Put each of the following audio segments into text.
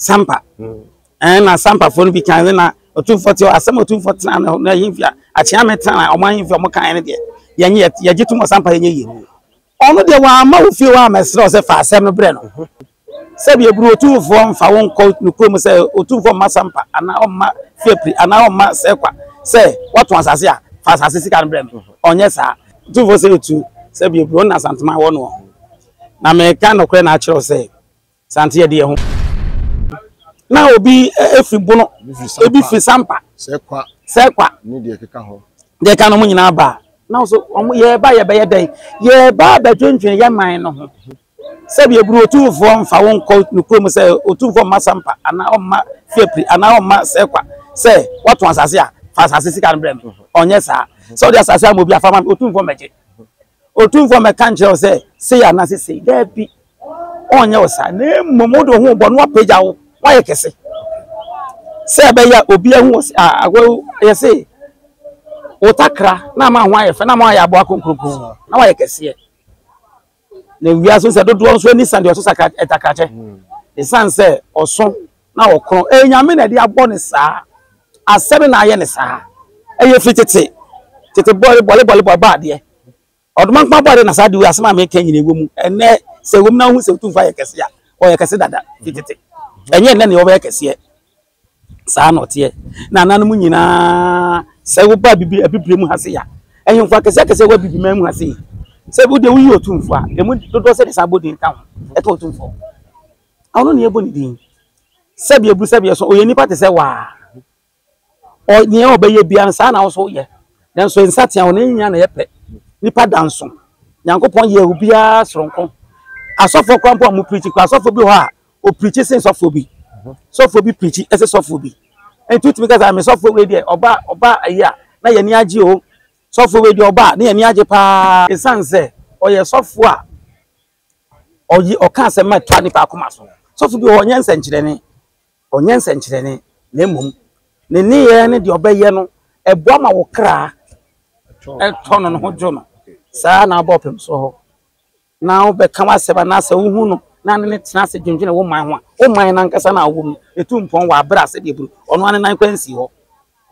Sampa. Ɛn na Sampafoɔ no bi kan sɛ na Otumfoɔ te hɔ, asɛm Otumfoɔ tena no na ahemfie a Akyeame tena na wɔn ahemfie a wɔn kan no deɛ yɛnyɛ yɛgye tom wɔ Sampa yɛnyɛ yie. Ɔno deɛ wamma wo fie hɔ ammɛsrɛ wo sɛ fa asɛm no brɛ no. Sɛbi eburu Otumfoɔ mfa wo nkɔ ne kurom sɛ Otumfoɔ mma Sampa anaa ɔmma Fiapri anaa ɔmma Sɛkwa sɛ wɔtɔn asase a fa asase sika no brɛ me. Ɔnyɛ saa. Otumfoɔ sɛ tu sɛbi eburu ɔne Asantuma wɔ noɔ. Na meka nokorɛ na akyerɛ wo sɛ. Sante ɛdeɛ ho na obi efi bono ebi fi sampa sɛkwa sɛkwa ne deɛ keka ho deɛ ka no mo nyinaa ba na so wɔn yɛreba yɛbɛyɛ dɛn yɛreba abɛdwendwen yɛ man no ho sɛbi eburu otumfoɔ nfa wɔn nkɔ ne kurom sɛ otumfoɔ mma sampa anaa ɔmma fiapiri anaa ɔmma sɛkwa sɛ wɔtɔn asase a fa asase sika no brɛ mi ɔnyɛ saa sɛ ɔde asase ama obi afa ma otumfoɔ mɛgye. Otumfoɔ mmɛka nkyerɛ wo sɛ, Sei anaasɛ sei. Dabi, ɔrenyɛ wo saa, na mmom wode wo ho rebɔ na wapagya wo, woayɛ kɛse. Sɛ ɛbɛyɛ a obi ahu wɔ a agwa yɛ se wo takra na ama ho ayɛ fɛ na ama ayɛ aboa kronkronkron na woayɛ kɛseɛ. Na wiase sɛ dodoɔ nso ani sa deɛ ɔso takrakyɛ. Ɛsiane sɛ ɔso na ɔkorɔn. Ɛyɛ Nyame na ɛde abɔ no saa. Asɛm na ayɛ no saa. Ɛyɛ firi tete. Tete bɔre bɔre bɔre bɔre bɔɔ adeɛ. Ɔdomankoma bɔɔ adeɛ na saa de wei asɛm a meka nyina ɛwɔ mu. Ɛnɛ sɛ ɛwɔ mu na wohu sɛ Otumfoɔ ayɛ kɛse a, ɔyɛ kɛse dada firi tete. Ɛnyɛ ɛnɛ na ɔbɛyɛ kɛseɛ. Saa na ɔteɛ. Na ananom nyinaa sɛ woba abibi abibire mu ha se a, ahemfo akɛseɛ akɛseɛ wɔ abibi man mu ha sei. Sɛ wodeɛ woyi Otumfoɔ a, ɛmu dodoɔ sɛ de saa bɔ din ka ho. Ɛka Otumfoɔ ho. Ɔno na yɛbɔ ne din. Sɛdeɛ bu sɛdeɛ so ɔyɛ nipa te sɛ waa. Nea ɔbɛyɛ biara no saa na ɔso yɛ. Nanso nsa tea wɔn nyinaa na yɛpɛ. Nipa da nso. Nyankopɔn yɛ obiara soronko. Asɔfoɔ koraa mpo a mo pirikyi koraa asɔfoɔ bi hɔ a ɔpirikyi sen sɔfoɔ bi. Sɔfoɔ bi pirikyi ɛsɛ sɔfoɔ bi. Nti wotumi ka sɛ me sɔfoɔ wei deɛ ɔba ɔba ayi a na yɛn ani agye o. Sɔfoɔ wei deɛ ɔba a na yɛn ani agye paa. Ɛsiane sɛ ɔyɛ sɔfoɔ a ɔye, ɔka asɛm ma ɛtɔ nnipa akoma so. Sɔfo bi wɔ hɔ, ɔnyɛ nsɛnkyerɛnne, ɔnyɛ nsɛnkyerɛnne, na mmom ne nneyɛɛ ne deɛ ɔbɛyɛ no, ɛboa ma wo kra ɛtɔ no, ne ho dwo no. Saa na wobɔ ɔpem soɔ hɔ, na wobɛka w'asɛm, anaa sɛ wohu no na ne no tena ase dwendwene wo man ho a, wo man no ankasa no a wowɔ mu no, ɛtu mpɔn wɔ aberɛ a sɛdeɛ ɛburu, ɔno ara ne nan kwan sii hɔ.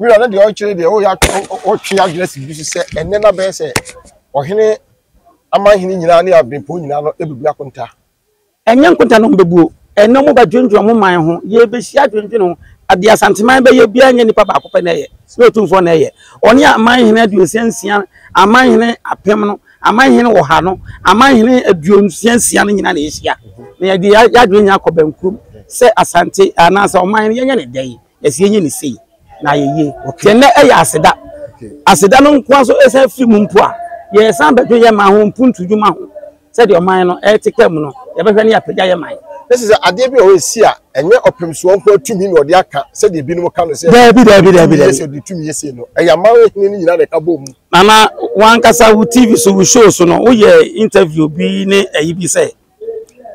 Wira no deɛ ɔrekyerɛ deɛ ɔreyɛ ɔtwe adwene si bi so sɛ ɛnnɛ na bɛyɛ sɛ ɔhene amanhene nyinaa ne abempɔn nyinaa no bɛbu akonta. Ɛnyɛ nkonta na wɔbɛbuo, ɛnnɛ wɔbɛdwendwene wɔn man ho, yɛrebɛhyia adwendwene ho, adeɛ Asanteman bɛyɛ biara nyɛ nnipa baako pɛ na ɛyɛ, ne Otumfoɔ na ɛyɛ, ɔne amanhene aduosia nsia, amanhene apem no, amanhene ɔha no, amanhene aduosia nsia no nyinaa na yɛhyia, na yɛde yɛn adwene nyinaa kɔ bɛnkurom sɛ Asante anaasɛ ɔman no yɛnyɛ ne dɛn. Ɛsɛ yɛnyɛ no sei na ayɛ yie. Yɛn nnɛ yɛ aseda. Aseda no nko ara nso ɛsan firi mu mpo a, yɛsan bɛdwene yɛn man ho, mpuntu dwuma ho. Sɛdeɛ ɔman no rete ka mu no, yɛbɛhwɛ na yɛapagya yɛn man. Na ɛsɛ sɛ adeɛ bi wɔ hɔ a ɛsi a, ɛnyɛ ɔpemsoɔ nko ara tumi na ɔde aka sɛdeɛ ebinom ka no sɛ, Daabi, daabi, daabi, daabi. Sɛ ɔde tumi yɛ sei no, ɛyɛ amanhene no nyinaa na ɛka bɔ mu. Nana, wo ankasa wo TV so, wo show so no, woyɛɛ interview bi ne ayi bi sɛ,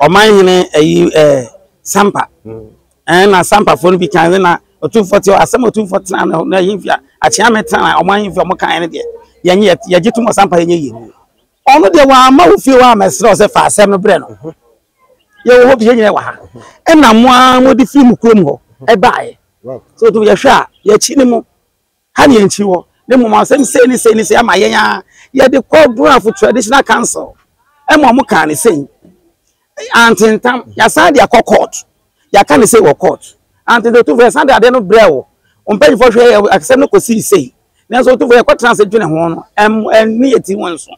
ɔmanhene ayi, ɛɛ, Sampa, Ɛnna asampafoɔ no bi kae sɛ, Na Otumfoɔ te hɔ, asɛm a Otumfoɔ tena ne ho, na ahemfie a akyeame tena a wɔn ahemfie a wɔkaeɛ no deɛ, yɛn yɛ- yɛgye tom wɔ sampayɛ nyɛ yie mu. Ɔno deɛ, wamma wo fie hɔ ammɛsrɛ wo sɛ fa asɛm no brɛ no. Yɛwɔ hɔ bi, yɛn nyinaa wɔ ha. Ɛnna mo ara mode firii mo kurom hɔ baeɛ. Sɛ Otumfoɔ, yɛhwɛ a, yɛakyi ne mu. Ha ne yɛnkyiri hɔ, na mmom asɛm sei ne sei ne sei ama yɛn ara. Yɛde kɔɔ Brafo Traditional Council ma wɔn kaa ne sei. Antentam, yɛasan de akɔ court. Yɛaka ne sei wɔ court. Antentam, otufo yɛsan de adeɛ no brɛ wo. Wɔn mpanyinfoɔ hwɛ yɛ asɛm no kɔsii sei. Nanso otufo yɛkɔtena ase dwene ho no, ɛnni yɛn ti ho nso.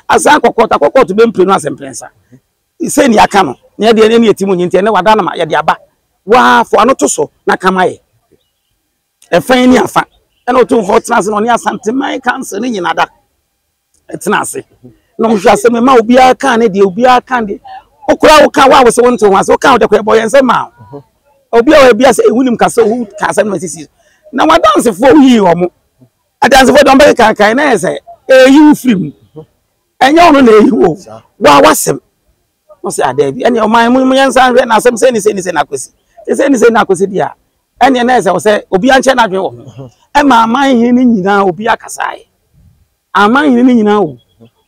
Asan akɔ court, akɔ court bɛ mprenu ase mprɛnsa. Sei ne yɛaka no, na yɛde ɛnni yɛn ti mu nyi nti ɛnɛ wada no ma yɛde aba. Waa, fo ano to so na ka ma yɛ. Ɛfa yi ne afa ɛna ɔtumfoɔ tena ase na ɔne asanteman kansa ne nyina da ɛtena ase na ɔhwɛ ase me ma obiara kan ne deɛ obiara kan deɛ okura wo kan wo a wo se wo nte ho ase wo kan wo deɛ kɔ ɛbɔ yɛn nsɛm ma wo obi a wɔ ebi ase ehu nim kasa ohu kasa no sisi na wadansefoɔ woyi wɔn adansefoɔ deɛ ɔbɛyɛ kankan na yɛ sɛ eyi wo firi mu ɛnyɛ ɔno na eyi wo wa wasɛm. Mo se adɛn bi ɛne ɔman mu yɛn nsan hwɛ na asɛm sɛ ni sɛ ni sɛ na akosi sɛ ni sɛ na akosi deɛ ɛne na ɛsɛ sɛ obi ankyɛ n'adwene wɔ ho ɛma aman hene no nyinaa obi akasa yɛ aman hene no nyinaa o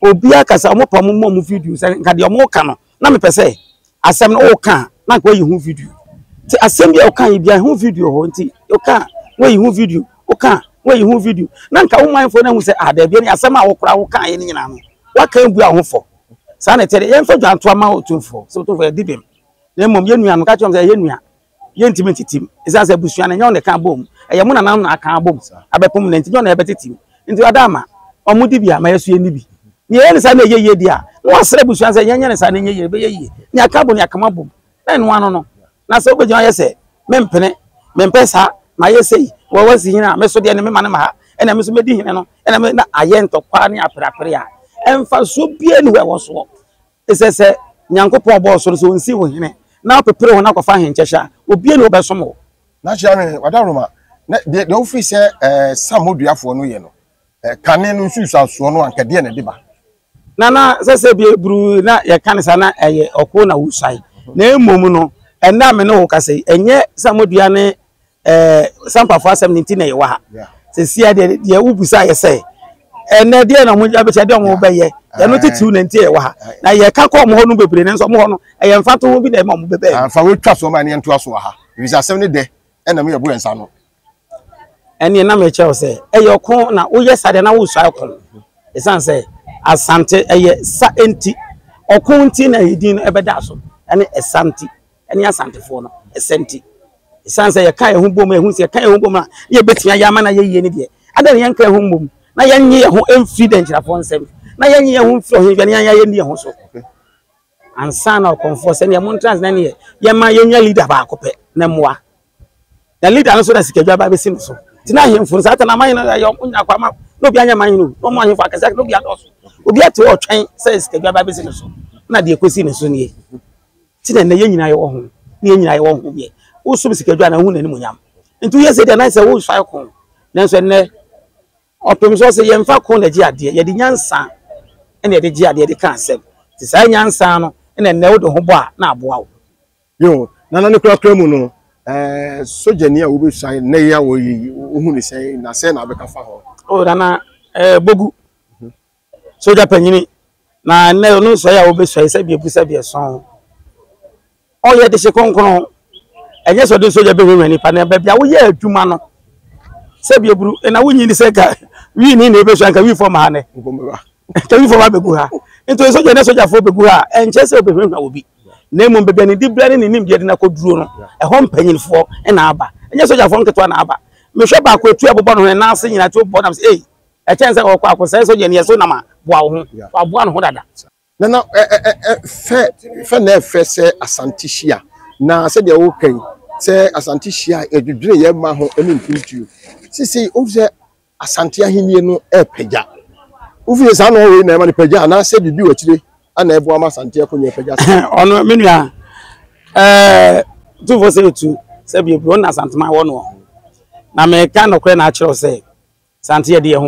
obi akasa wɔn pa mo mmɔ mo video sɛ nka deɛ wɔn ka no na mepɛ sɛ asɛm no wɔka na nka wɔyi ho video ti asɛm bi a wɔka yi bi a ho video hɔ nti wɔka wɔyi ho video wɔka wɔyi ho video na nka wɔn manfoɔ na ho sɛ ah dɛbi ɛne asɛm a wɔkora wɔka yɛ no nyinaa no wɔaka ebu ahofo. saa na ɛteɛ de yɛmfa dwantoa ma otumfoɔ sɛ otumfoɔ yɛdi bem na mmom yɛn nua no ka kyerɛ sɛ ɛyɛ nua yɛntumi ntitim ɛsiane sɛ abusua no nyɛ wɔn na ɛka abom ɛyɛ mo nanam na aka abom abɛpom na nti nyɛ wɔn na ɛbɛtitim nti ɔda ama wɔn di bi a ma yɛso yɛn ni bi na yɛyɛ ne saa na ɛyɛ yie di a na wɔasrɛ abusua sɛ yɛnyɛ ne saa na ɛnyɛ yie ɛbɛyɛ yie ne aka abom ne akama abom na ɛno ano no na sɛ wobɛgyina yɛ sɛ mempene mempɛ saa mayɛ sei wɔwɔ si hene a me so deɛ ne mema no ma ha ɛna me so mɛdi hene no ɛna me na ayɛ ntɔkwa ne aperapere a ɛmfa so bia ne hɔ ɛwɔ soɔ ɛsɛ sɛ nyankopɔn bɔɔ so no sɛ ɔnsi wo hene na wopepere ho no akɔfa ahenkyɛhyɛ a obie ne wobɛsom wo na kyerɛ me wadaroma na deɛ wofiri sɛ eh, samoduafoɔ no yɛ no Kane no nsunsuansoɔ no anka deɛ na ɛde ba? Na na sɛ sɛ bie bruu na yɛka no saa na ɛyɛ ɔko na wosuae. Na mmom no, ɛnnɛ a me ne wo kasa yi, ɛnyɛ samodua ne sampafoɔ asɛm no nti na yɛwɔ ha. Seesei a deɛ deɛ wobusa yɛ sɛ, ɛnnɛ deɛ na wɔn abɛkyɛ deɛ wɔn bɛyɛ, ɛno titiriw na nti yɛwɔ ha. Na yɛka kɔ wɔn hɔ no bebree nanso wɔn hɔ no ɛyɛ mfatoho bi na ɛma wɔn bɛbɛɛ. Amfa wotwa so ma ne yɛntoa so wɔ ha, efisɛ asɛm no dɛ ɛna me yɛbo yɛn nsa ano. ɛneɛ na mekyerɛ wo sɛ ɛyɛ ɔko na woyɛ saa deɛ na wosua ɔko ɛsiane sɛ asante ɛyɛ sa nti ɔko nti na ɛdin no ɛbɛda so ɛne ɛsa nti ɛne asantefoɔ no ɛsɛ nti ɛsiane sɛ yɛka yɛn ho bom ɛho sɛ yɛka yɛn ho bom a ne yɛbɛtumi ayɛ ama na yɛyie no deɛ ada ne yɛnka yɛn ho mmom na yɛnye yɛn ho mfiri dɛnkyerɛfoɔ nsɛm na yɛnye yɛn ho mfiri ɔhemfɛ ne yɛn yɛn ni yɛn ho so ansa na ɔkɔmfoɔ sɛ neɛ montra ase na neɛ yɛma yɛnya leader baako pɛ na mmoa na leader no so na sikadwa ba bɛsi no so nti na ahemfo no saa ta na aman no yɛ ɔmo nya kwa ma na obi anyɛ man no na ɔmo ahemfo akɛse akɛse na obi adɔɔso obi ate ɔtwɛn sɛ sikadwa ba bɛsi no so na deɛ kɔsi no so nie nti na ɛnɛ yɛn nyinaa yɛwɔ ho na yɛn nyinaa yɛwɔ ho yɛ wosom sikadwa na wohu n'animonyam nti woyɛ sɛ deɛ na sɛ wosae ko nanso ɛnɛ Ɔpem so ɔse yɛmfa ko na ɛgye adeɛ, yɛde nyansa na yɛde gye adeɛ de ka asɛm, nti saa nyansa no na nnɛ wode ho bɔ a na aboa wo. Yoo, na na ne korakora mu no sogyani a wobɛsua nnɛ yi a wɔyɛ yi, wohu no sɛn na sɛn na wobɛka fa ho? Oh, Nana eh, Bogu. Sogya panyini na ɛnnɛ ɔno nsɔe a wobesɔe sɛ biabu sɛ biɛsɔn. Ɔyɛ dehye kronkron. Ɛnyɛ sɛ ɔde sogya bɛhwehwɛ nipa na baabi a woyɛ adwuma no sɛ biaburu na wonyi ne sɛ ka wii ni na ebesua nka wii fam ha nɛ. Nka wii fam ha bɛgu ha. Nti sogya ne sogyafoɔ bɛgu ha a ɛnkyɛ sɛ wobɛhwehwɛ obi. Na mmom baabi a ne dibra ne ne nimdeɛ de no akɔduro no ɛhɔ mpanyinfoɔ na aba. Ɛnyɛ sogyafoɔ nketewa na aba. Mehwɛ baako etu ɛbobɔ ne ho ne nan ase nyinaa ti wobɔ nam sɛ ei. Ɛkyɛn sɛ ɔkɔ akɔsɛe sogyani a ɛso nam a, boa wo ho. Waboa ne ho dada. Na na fɛ fɛ na ɛfɛ sɛ Asante hyia. Na sɛdeɛ woka yi, sɛ Asante hyia a, yɛdwedwene yɛn mma ho ne mpuntuo. Seesei wohu sɛ Asante ahennie no repagya. Wohu sɛ saa nɔɔ wei na ɛma no pagya anaasɛ biribi wɔ akyire ana ɛboa ama asante ɛkɔ nyɛ pɛgya sɛ ɔno me nua ɛɛ tufo sɛ etu sɛ bi ebi ɔna asante ma wɔ no na mɛka nɔkorɛ na akyerɛw sɛ sante yɛ deɛ ho